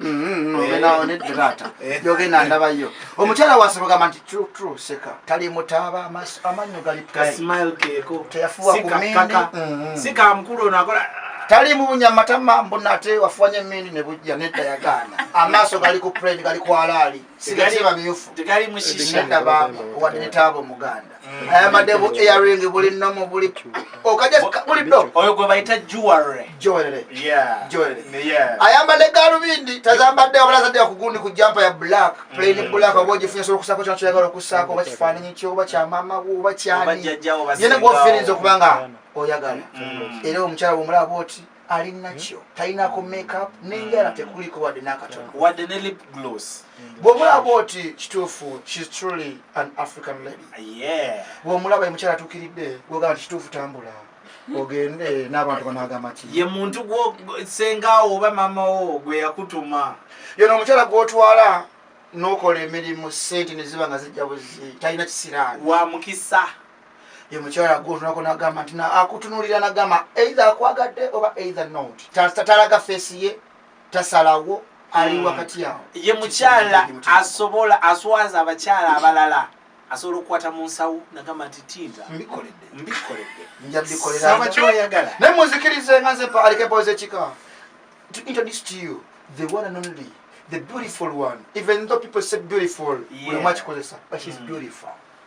Mm-hmm. Eh. ogenda awo nedde taata eh. yogenda ndabayo omukyala wasibugamba nti tru tru seka tali mutaaba amannyo gali kasmile keko teyafuwa kumindi mm-hmm. si kamukulu ono akola tali mubunya matama mbona ate wafuwanya emindi ne bujja nedda yagaana amaaso gali ku predi gali kwalaali tegali mushishandaba wali nitaabo muganda mm. ayambadde bu earing buli nomu buli okajabuliddo oyo gwe bayita juwere juwere ayambadde galubindi tazambadde wabala azadde yakugundi ku jampa ya black mm. plain black oba ogifunye sobola okusako kyona kyoyagala okusaako oba kifaananyi kyo oba kyamama wo oba kyani yena gwofirinza okuba nga oyagala mm. era omukyala bwomulaba bwoti ali nakyo talinako makeup nenjala tekuliko wadde nakatono wadde ne lip gloss bwomulaba oti kituufu shes truly an african lady bwomulaba emukyala atukiridde gwogamba nti kituufu tambula ogende n'abantu banagamba ki ye muntu gwosengaawo oba mamawo gwe yakutuma yono omukyala gwotwala nokola emirimu sente neziba nga zijja buzi talina kisiraani wa mukisa ye mukyala gwotunako nagamba nti akutunulira nagamba eitha akwagadde oba eitha not tatalaga feesi ye tasalawo ali hmm. wakati awo ye mukyala asobola aswaza abakyala abalala asobola okukwata mu nsawo nagamba nti tinta mbikoledde mbikoledde njabikolerasaba kyoyagala naye muzikirize nga nze alikepoze kika to introduce to you the one and only the beautiful one even though people say beautiful yeah. we much cause but she's mm. beautiful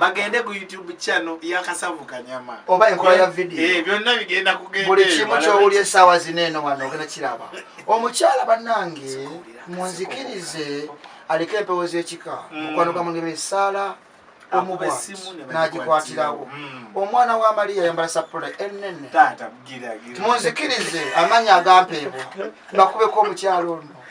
bagende ku youtube channel yakasavu kanyama oba enkola ya video eh, byonna bigenda kugenda buli kimu kyowulya esaawa zino eno wano ogenda kiraba omukyala banange munzikirize aliko empewo zekika mm. mukwano gwa mungema esaala omubwati nagikwatirawo mm. omwana wa mariya yambala sapula enene munzikirize amanya agampeebwa bakubeko omukyalo ono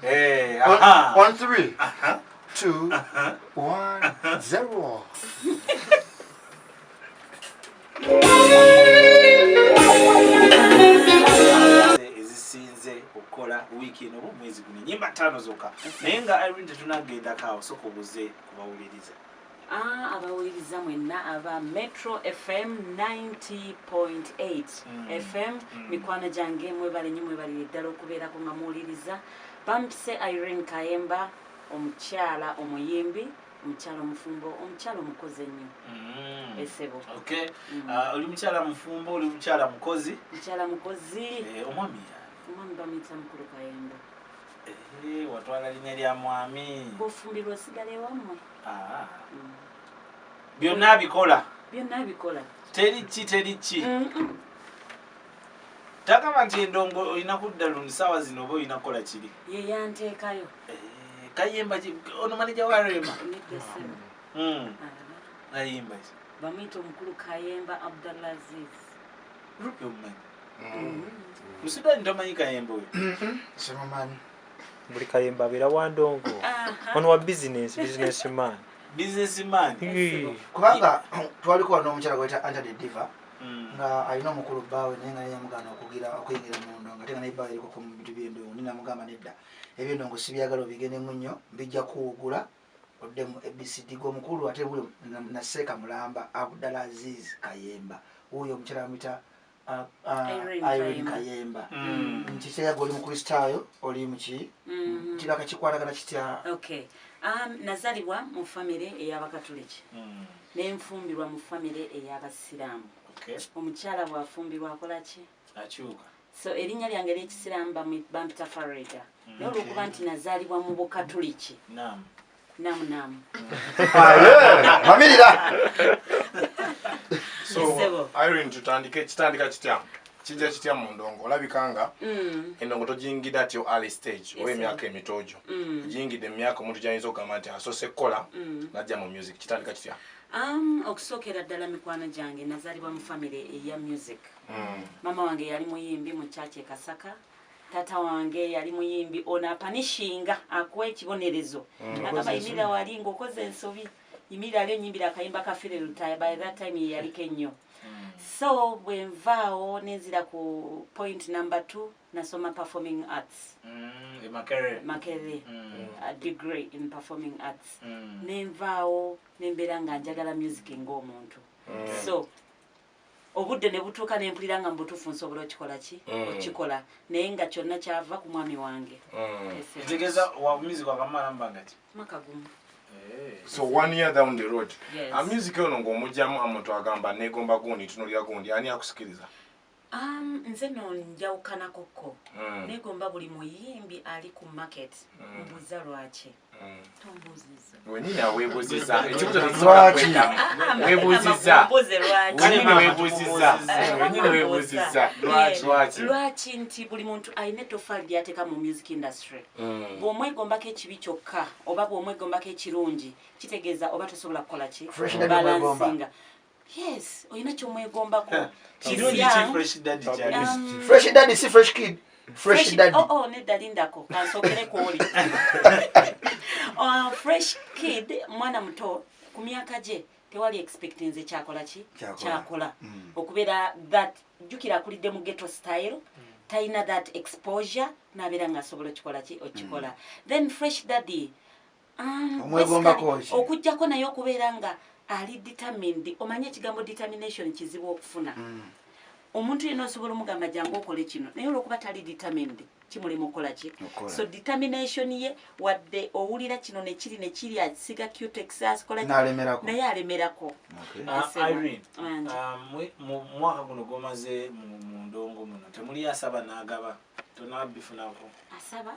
Hey, One, aha. one, three, Aha. two, Aha. one, zero. ezisinze okukola wiiki eno oba omwezi guno enyimba ttaano zokka naye nga irene tetunagendako awo soka obuze kubawuliriza Ah, abawuliriza mwenna aba metro fm 90.8 mm. fm mm. mikwano gyange mwebale nyo mwebalire ddala okubeerako nga muwuliriza bampise irene kayemba omukyala omuyimbi omukyala omufumbo omukyala omukozi ennyo mm. esebo mm. ah, oli mukyala mufumbo oli mukyala mukozi mukyala mukozi eh, omwami omwami bamuyita mukulu kayemba eh, watwala linya lya mwami bofumbirwa osigala ewamwe byonna abikola byonna abikola teri ki teri ki tagaba nti endongo olina kudda lundi saawa zino oba olina kukola kiri yeyanteekayo eh, kayimba ono manija wa rema hmm. ah. ayimba ki bamuyita omukulu kayemba abdallah aziz rupi omumanyi hmm. musudani tomanyi kayemba oyo hmm. simumanyi buli kayemba abeera wa ndongo ono wa bizinesi bizinesi man bizinesi man kubanga twaliko wano omukyala gweta antade diva hmm. nga alina omukulu bbaawe naye nga yeyamugana okugira okuyingira mu ndongo ate nga naye bbaawe erikoko mu bintu byendongo ni namugamba nedda ebyendongo sibyagala obigendemu nnyo bijja kuwugula oddemu abcd gwomukulu ate naseeka mulamba abdala aziz kayemba wuuyo omukyala amita Irene Kayemba mm. nti teyaga oli mukristaayo oli muki mm-hmm. nti bakakikwatagana kitya um, nazalibwa mu famire eyabakatuliki mm. nenfumbirwa mu famire eyabasiraamu omukyala bwafumbirwa akolaki akyuka so erinnya lyange eryekisiraamu bampita farida mm, naye olwokuba nti nazalibwa mu bukatuliki Namu namu. Ah, yeah. Mamirira. so irene tutandike kitandika kitya kijja kitya mu ndongo olabika nga mm. endongo togiyingidde ati yo early stage oba emyaka emito gyo mm. ogiyingidde mu myaka omuntu gyayinza okugamba nti asoose kukola mm. najja mu music kitandika kitya Um, okusookera ddala mikwano gyange nazaalibwa mu famiry eya music mm. maama wange yali muyimbi mu kyaki ekasaka Taata wange yali muyimbi ono apanishinga akuwa ekibonerezo mm. agamba yimira wali ngaokoze ensobi yimira ali onyimbira akayimba ka fire lutaya by that time yeyaliko ennyo mm. so bwenvaawo nenzira ku point number t nasoma performing arts mm, e makerere a degree in performing arts nenvaawo nembeera nga njagala music ngaomuntu so obudde ne butuuka ne mpulira nga mu butuufu nsobola okikola ki mm. okikola naye nga kyonna kyava ku mwami wange kitegeeza mm. wabumizi gwakamala mbanga ki mwaka gumu eh. so one year down the road yes. amusic ono ng'omugyamu amuntu agamba negomba gundi tunulira gundi ani akusikiriza Um, nze no njawukanakokko mm. negomba buli muyimbi ali ku market mm. mbuza lwaki wenyini awebuziza ekibuzowebuziza wenyini webuziza wenyini webuziza lwaki lwaki nti buli muntu alina ettofaali lyateeka mu music industry mm. bw'omwegombako ekibi kyokka oba bw'omwegombako ekirungi kitegeeza oba tosobola kukola ki balansinga Yes, oyina kyomwegombako. Um, fresh daddy si fresh kid. Fresh daddy. Oh oh, nedda lindako. Kansokere kwoli. Uh, fresh kid mwana muto ku myaka gye tewali expecti nze kyakola ki kyakola mm. okubeera that jjukira akulidde mu geto style mm. talina that exposure nabeera nga asobola okikola ki okikola mm. then fresh daddy Um, omwegombako ki okujjako naye okubeera nga ali determined omanye ekigambo determination kizibu okufuna mm. omuntu yena osobola omugamba jangu okole kino naye olwokuba tali determined kimulimu okukola ki so determination ye wadde owulira kino nekiri nekiri asiga cutexaskolakiaye alemerako ah, ah, mu mwaka guno gwomaze mu ndongo muno temuli asaba nagaba tonabifunako asaba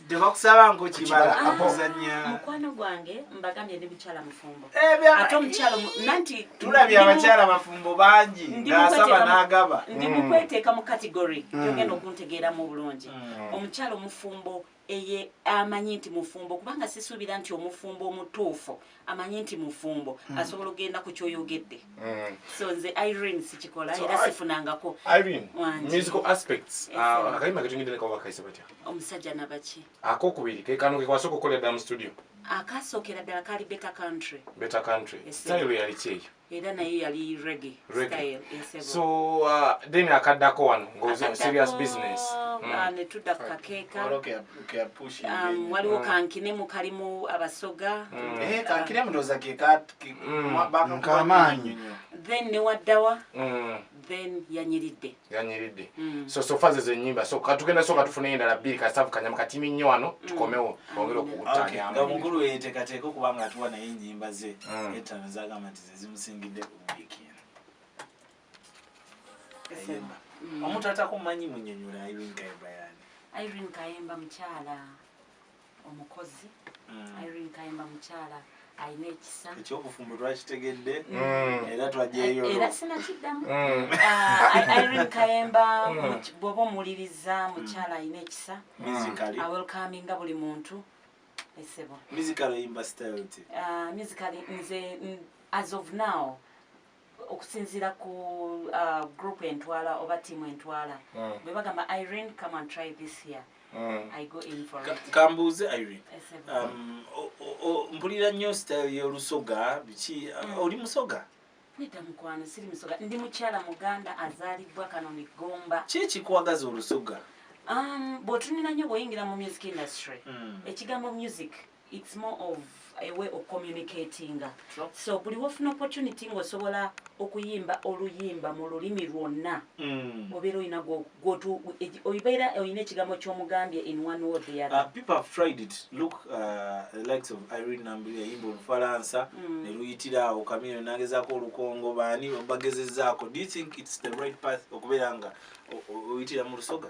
tebakusaba nkukibala akuzanya ah, mukwano gwange mbagambye ne mukyala mufumbo eh, ate omukyalo nanti tulabye abakyala bafumbo bangi ngasaba n'agaba ndi mm. mukweteeka mu kategory mm. yogenda okuntegeeramu obulungi mm. omukyalo mufumbo eye amanyi nti mufumbo kubanga sisuubira nti omufumbo omutuufu amanyi nti mufumbo mm. asobola okugenda ku kyoyogedde mm. so nze irene sikikola so, era sifunangako omusajja nabaki akokubiri kekano kekwasoka okukolera ddala mu studio akasookera ddala kali beta country beta country yes, style yali kyeyo era naye yali reggae style esebo so uh, then akadako wano ngozi on serious business mm. uh, ne tudda ku kakeeka um, waliwo mm. kankine mu kalimu abasoga mm. eh, kankine mudoza ke kat mm. kamaanyi then ne waddawa mm. then yanyiridde yanyiridde mm. so sofa zezo enyimba so katugenda soka tufuneyo endala bbiri kasavu kanyama katimi nnyo wano mm. tukomewo twongere okuwutanyanga omukulu weyeteekateeka okuba nga atuwa naye enyimba ze mm. etaano zagamba nti zezimusingidde ku wiiki eno omuntu atakumanyi munyonyola irene kayemba yani irene kayemba mukyala omukozi Irene Kayemba mukyala alina ekisa ekyobufumbo twakitegedde mm. era twajeyo eh, era sinakiddamu mm. ah, Irene Kayemba mm. bwoba omuwuliriza mukyala alina ekisa awelcominga buli muntu esebo musically imba style ti ah, musically nze as of now okusinziira ku uh, group entwala oba tiamu entwala mm. bwe bagamba irene come and try this here mm. i go in for it kambuuze irene um, mpulira nnyo style y'olusoga biki uh, mm. oli musoga nedda mukwano siri musoga ndi mukyala muganda azaalibwa kano migomba ki ekikuwagaza olusoga um, bw'otunira nnyo bw'oyingira mu music industry mm. ekigambo music mm. it's more of a way of communicating so buli wofuna opportunity ng'osobola okuyimba oluyimba mu lulimi lwonna mm. obeera olina obeera olina ekigambo ky'omugambye in one word the other uh, people have tried it look uh, the likes of irene nambi yayimba olufalansa mm. ne luyitira awo kamino nagezaako olukongo baani bagezezaako do you think it's the right path okubeera nga oyitira mu lusoga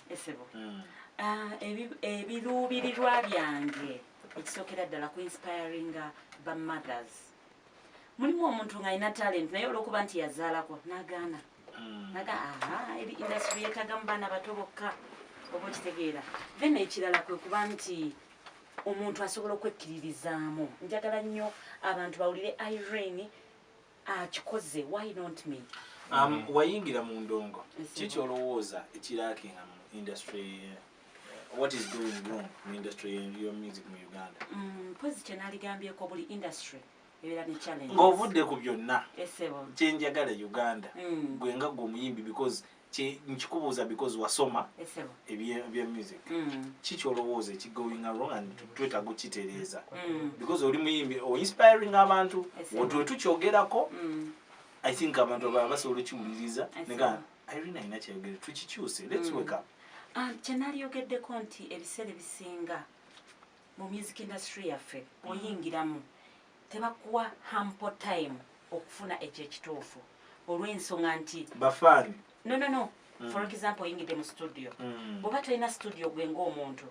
esebo ah, ebiruubirirwa byange ekisookera ddala ku inspiringa ba mothers mulimu omuntu ng'alina talent naye olwokuba nti yazaalako nagaana hmm. naga aha eri industry yetaga mu baana bato bokka oba okitegeera then ekirala kwe kuba nti omuntu asobola okwekkiririzaamu njagala nnyo abantu bawulire irene akikoze why not me um, mm. wayingira mu ndongo kiki olowooza ekirakinga mu industry eh, what is doing wrong mu industry your music mu uganda mm, mpozi kyenaaligambyeko buli industry ng'ovudde ku byonna kyenjagala uganda mm. gwe nga gwe omuyimbi because nkikubuuza because wasoma ebya music mm. kiki olowooza ekigoing wrong and twetaaga okukitereeza mm. because oli muyimbi oinspiring abantu wetwe tukyogerako mm. i think abantu abaa basobola okiwuliriza nega irina alina kyayogere tukikyuse lets wake up ah, kyenaliyogeddeko nti ebiseera ebisinga mu music industry yaffe oyingiramu tebakuwa hample time okufuna ekyo ekituufu olw'ensonga nti bafani no no no mm. for example oyingidde mu studio mm. bwoba tolina studio gwe ng'omuntu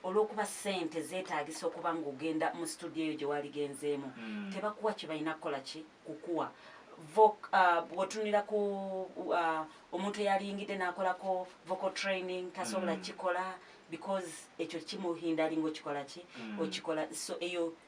olw'okuba sente zeetaagisa okuba ng'ogenda mu studio eyo gye waligenzeemu mm. tebakuwa kye balina kukola ki kukuwa Uh, bwotunira ku uh, omuntu eyaliyingidde n'akolako vocal training tasobola mm. kikola because ekyo kimuhinda alinga okikola ki mm. okikola so eyo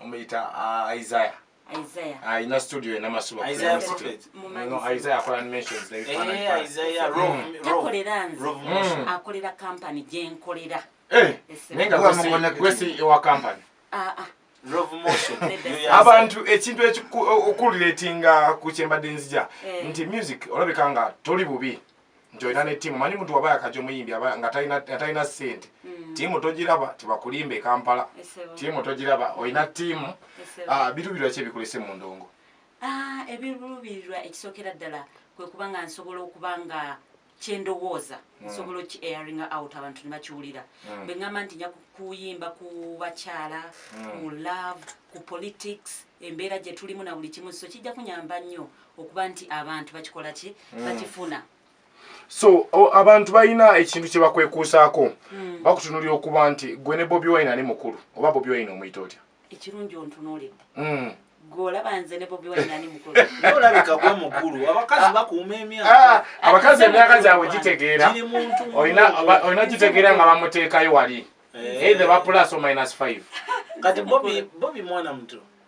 omuyita uh, isaya alina studio enamasubaisaya akola animations eh, hmm. takolera nze hmm. akolera kampany gyenkolera eh, naye nga gwesi ewa kampany ah, ah. abantu ekintu ekikuletinga ku kyembadde nzija eh. nti music olabika nga toli bubi nti olina ne tiimu manyi muntu waba yakaja omuyimbi nga talina sente mm. tiimu togiraba tibakulimba ekampala tiimu togiraba olina tiimu ah, biruubirwa ki ebikulese mu ndongo ah, ebiruubirirwa ekisookera ddala kwe kuba nga nsobola okuba nga kyendowooza mm. nsobola oki airinga out abantu nebakiwulira mm. bwe ŋamba nti nja kuyimba ku bakyala ku love ku politics embeera gye tulimu na buli kimu so kijja kunyamba nnyo okuba nti abantu bakikola ki mm. bakifuna so abantu balina ekintu kye bakwekuusaako mm. bakutunulira okuba nti gwe ne bobi wine ani mukulu oba bobi wine omuyita otya ekirungi ontunuulidde mm. gwolaba nze ne bobi wine ani mukulu olabika gwe mukulu abakazi ah. bakuuma emyaka ah, abakazi emyaka gyabwe gitegeera olina gitegeera nga bamuteekayo wali eh. eithe bapulaso minus five kati bobi mwana muto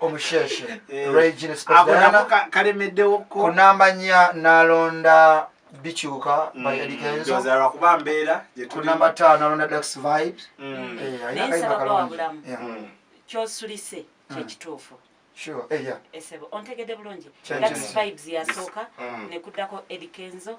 omusheshe eh, regina spesiala kalemeddewo kunamba nya nalonda bikyuka mm, bayalikenzolwakuba mbeera kunamba taano alonda dax vibes mm. eh, ayinakaibakalonda mm. kyosulise kyekituufu Sure. Eh, yeah. Esebo. Ontegede bulungi. That's vibes ya soka. Mm. Nekudako Eddie Kenzo.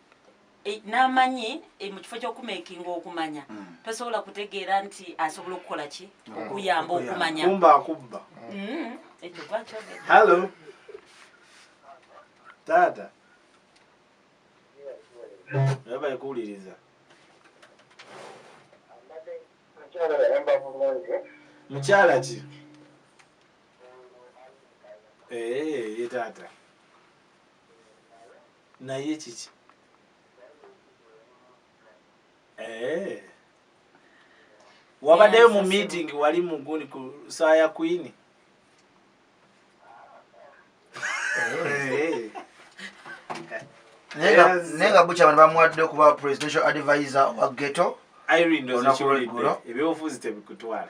e, n'amanyi e, mu kifo ky'okumekinga okumanya mm. tosobola kutegeera nti asobola okukola ki mm. okuyamba okumanya kumba akubba mm. ekyo gwakyogera hallo taata naye bayikuwuliriza mukyala ki ee eh, ye taata naye kiki eh. wabaddeyo mu meeting wali muguni ku saa ya kwini eh. naye nga bukya bano bamuwadde okuba presidential advisor owa geto ebyobufuzi tebikutwala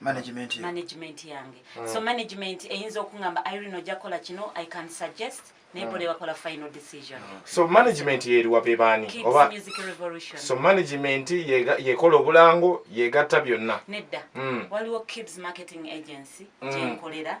management yo management yange mm. so management eyinza okungamba irene ojja kola kino i can suggest naye bo lebakola final decision mm. so management yeriwa bebaani oba music revolution so management yekola obulango yegatta byonna nedda mm. waliwo kibs marketing agency mm. gyenkolera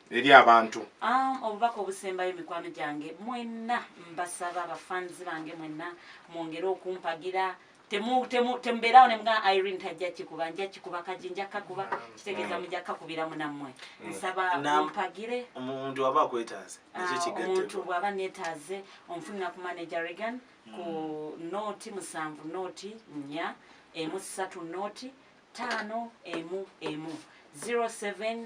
eri abantu um, obubaka obusembayo mikwano gyange mwenna mbasaba bafanzi bange mwenna mwongere okumpagira temubeerawo nemuga irene tajja kikuba nja kikuba kaji nja kakuba kitegeeza muja kakubira munammwe mm. nsaba mpagire omuntu waba akwetaaze ah, omuntu bwaba netaaze omufunira ku manager regan ku mm. nooti musanvu nooti nya emu satu nooti taano emu emu 07